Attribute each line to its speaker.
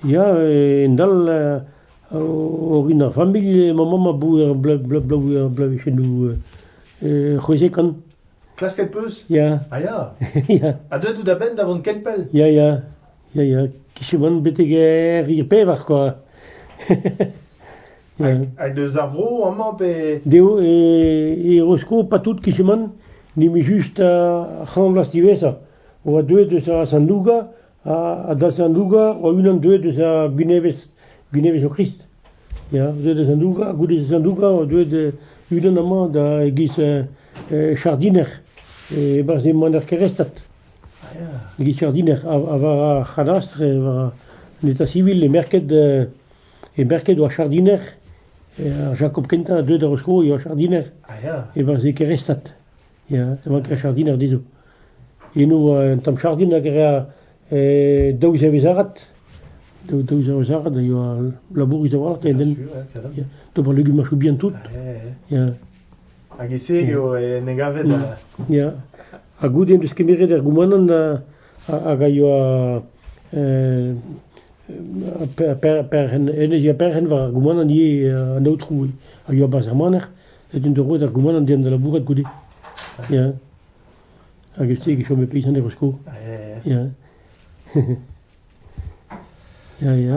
Speaker 1: Ya, e-dal orin ar familh, ma mamm a bouge ur bloavezhioù c'hwezek an. Klasket
Speaker 2: 'peus? Ya. Ah ya? Ya. Ha deuet out
Speaker 1: a-benn da
Speaker 2: vont ken pell? Ya, ya.
Speaker 1: Ya, ya. Kicheman betek er pevar, quoi. Hag eus ar vro
Speaker 2: amañ pe... Dezho
Speaker 1: e Rosko patout kichemant n'emañ just ar c'hant vloaz diwezhañ. E oa deuet eus ar Sandouga ha da Sandouga o-unan deuet eus ar Gwinevez, Gwinevez o Krist. Ya, deuet da Sandouga. Goude Sandouga oa deuet unan amañ da e-giz jardiner. E-barzh emañ er Kerestat.
Speaker 2: E-giz jardiner. Ha
Speaker 1: war ar c'hadastr, war an eta sivil, e merket E Berket oa jardiner, ar Jakob kentañ a deu da Roskro e oa jardiner, e veze
Speaker 2: kerestat,
Speaker 1: ya, e oa ker jardiner dezho. Eno oa un tamm jardin hag e rea daou zevezh-arat, daou zevezh-arat a yoa labourus a-walc'h en hent,
Speaker 2: d'ober legumañsoù
Speaker 1: bihan tout, ya. Hag
Speaker 2: e-se eo en em gavet? Ya,
Speaker 1: ha goude en deus kemeret er goumanant hag a yoa perc'henn war ar goumanant ivez an aotrou a yoa barzh ar maner ez int roet ar goumanant deomp da labourat goude ya hag e-se e chome peizant er skol ya ya ya